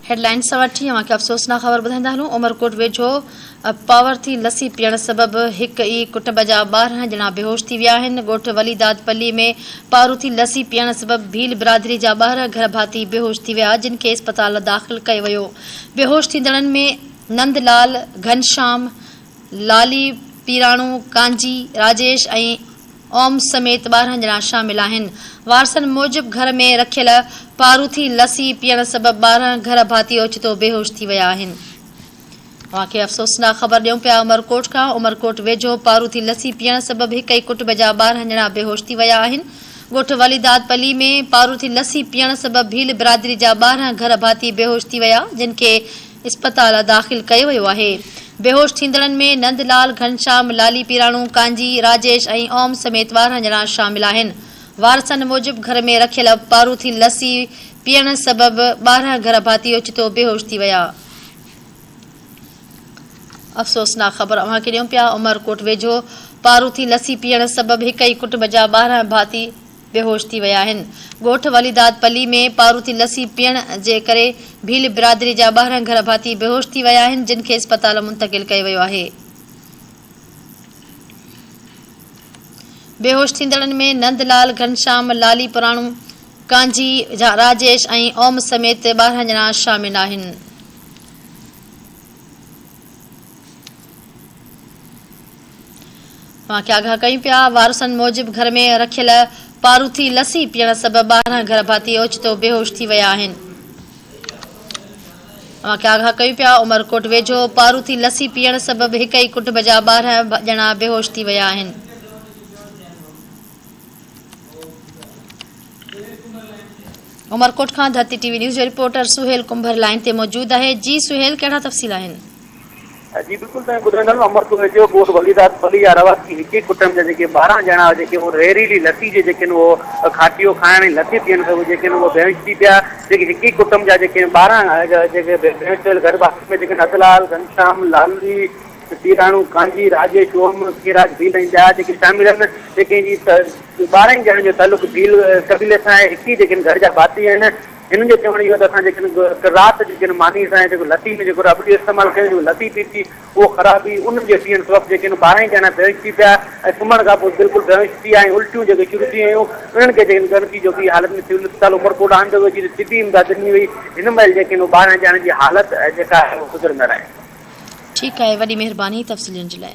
Headlines سوا ٽي اوهان کي افسوسناڪ خبر ٻڌائيندا هلون عمرڪوٽ ويجهو پاور ٿي لسي پيئڻ سبب هڪ ئي ڪٽنب جا ٻارهن ڄڻا بيهوش ٿي ويا آهن ڳوٺ ولي داد پلي ۾ پارو ٿي لسي پيئڻ سبب ڀيل برادري جا ٻارهن گهر ڀاتي بيهوش ٿي ويا جن کي اسپتال داخل ڪيو ويو بيهوش ٿيندڙن ۾ نند لال گهنشام لالي پيراڻو، ڪانجي، راجيش ۽ اوم سميت ٻارهن ڄڻا شامل آهن. وارثن موجب گهر ۾ رکيل پاروٿي لسي پيئڻ سبب ٻارهن گهر ڀاتي اوچتو بيهوش ٿي ويا آهن. اوهان کي افسوسناڪ خبر ڏيون پيا عمرڪوٽ کان عمرڪوٽ ويجهو پاروٿي لسي پيئڻ سبب هڪ ئي ڪٽب جا ٻارهن ڄڻا بيهوش ٿي ويا آهن. ڳوٺ وليداد پلي ۾ پاروٿي لسي پيئڻ سبب ڀيل برادري جا ٻارهن گهر ڀاتي بيهوش ٿي ويا جن کي اسپتال داخل ڪيو ويو آهي. بيهوش ٿيندڙن ۾ نند لال، گهنشام، لالي پيراڻو، ڪانجي، راجيش ۽ اوم سميت ٻارهن ڄڻا شامل آهن. وارثن موجب گهر ۾ رکيل پاروٿين لسي پيئڻ سبب ٻارهن گهر ڀاتي اوچتو بيهوش ٿي ويا. افسوسناڪ خبر اوهان کي ڏيون پيا عمرڪوٽ ويجهو پاروٿين لسي پيئڻ سبب هڪ ئي ڪٽنب جا ٻارهن ڀاتي. بيهوش ٿي ويا آهن. ڳوٺ وليداد پلي ۾ پاروٿي لسي پيئڻ جي ڪري ڀيل برادري جا ٻارهن گهر ڀاتي بيهوش ٿي ويا آهن جن کي اسپتال منتقل ڪيو ويو آهي. بيهوش ٿيندڙن ۾ نند لال، گهنشام، لالي پراڻو، ڪانجي، راجيش ۽ اوم سميت ٻارهن ڄڻا شامل آهن. اوهان کي آگاهه ڪيون پيا. وارثن موجب گهر ۾ رکيل پاروٿي لسي پيئڻ سبب ٻارهن گهر ڀاتي اوچتو بيهوش ٿي ويا آهن. اوهان کي آگاهه ڪيون پيا. عمرڪوٽ ويجهو پاروٿي لسي پيئڻ سبب هڪ ئي ڪٽنب جا ٻارهن ڄڻا بيهوش ٿي ويا آهن. عمرڪوٽ کان ڌرتي ٽي وي نيوز جو رپورٽر سهيل ڪنڀر لائين تي موجود آهي جي سهيل ڪهڙا تفصيل آهن. جي بلڪل توهين ٻڌو ٿا عمر ڪوهي جو ڳوٺ وليداد پلي جا رهواسي هڪ ئي ڪٽنب جا جيڪي ٻارهن ڄڻا جيڪي اهو رهريلي لسي جي جيڪي اهو کاٽيو کائڻ ۽ لسي پيئڻ کان اهو جيڪي اهو بيهوش ٿي پيا جيڪي هڪ ئي ڪٽنب جا جيڪي ٻارهن جيڪي بيهوش ٿيل گهر واسين ۾ جيڪي نندلال گهنشام لالي تيراڻو ڪانجي راجيش اوم کيراج ڀيل ۽ ٻيا جيڪي شامل آهن جيڪي جي ٻارهن ڄڻن جو تعلق ڀيل قبيلي سان آهي هڪ ئي جيڪي گهر جا ڀاتي آهن هنن جو چوڻ اهو آهي ته اسان جيڪڏهن قرائت جي ڪنهن معني سان يا جيڪو لتي ۾ جيڪو رابطي استعمال ڪيون ٿيون لتي پي ٿي اهو خرابي انهن جي ٿيڻ سبب جيڪي ان ٻارنهن ڄڻا بيهوش ٿي پيا ۽ سمهڻ کان پوء بلڪل بيهوش ٿي ويا ۽ الٽيون جيڪي شروع ٿي ويون انهن کي جيڪڏهن ڳڻتي جوڳي حالت ۾ سول اسپتال عمرڪوٽ آندو ويو جتي طبي امداد ڏني وئي هن مهل جيڪي ان ٻارنهن ڄڻن جي حالت جيڪا آهي اهو سڌرندڙ آهي. ٺيڪ آهي وڏي مهرباني تفصيل ڏيڻ جي لاء.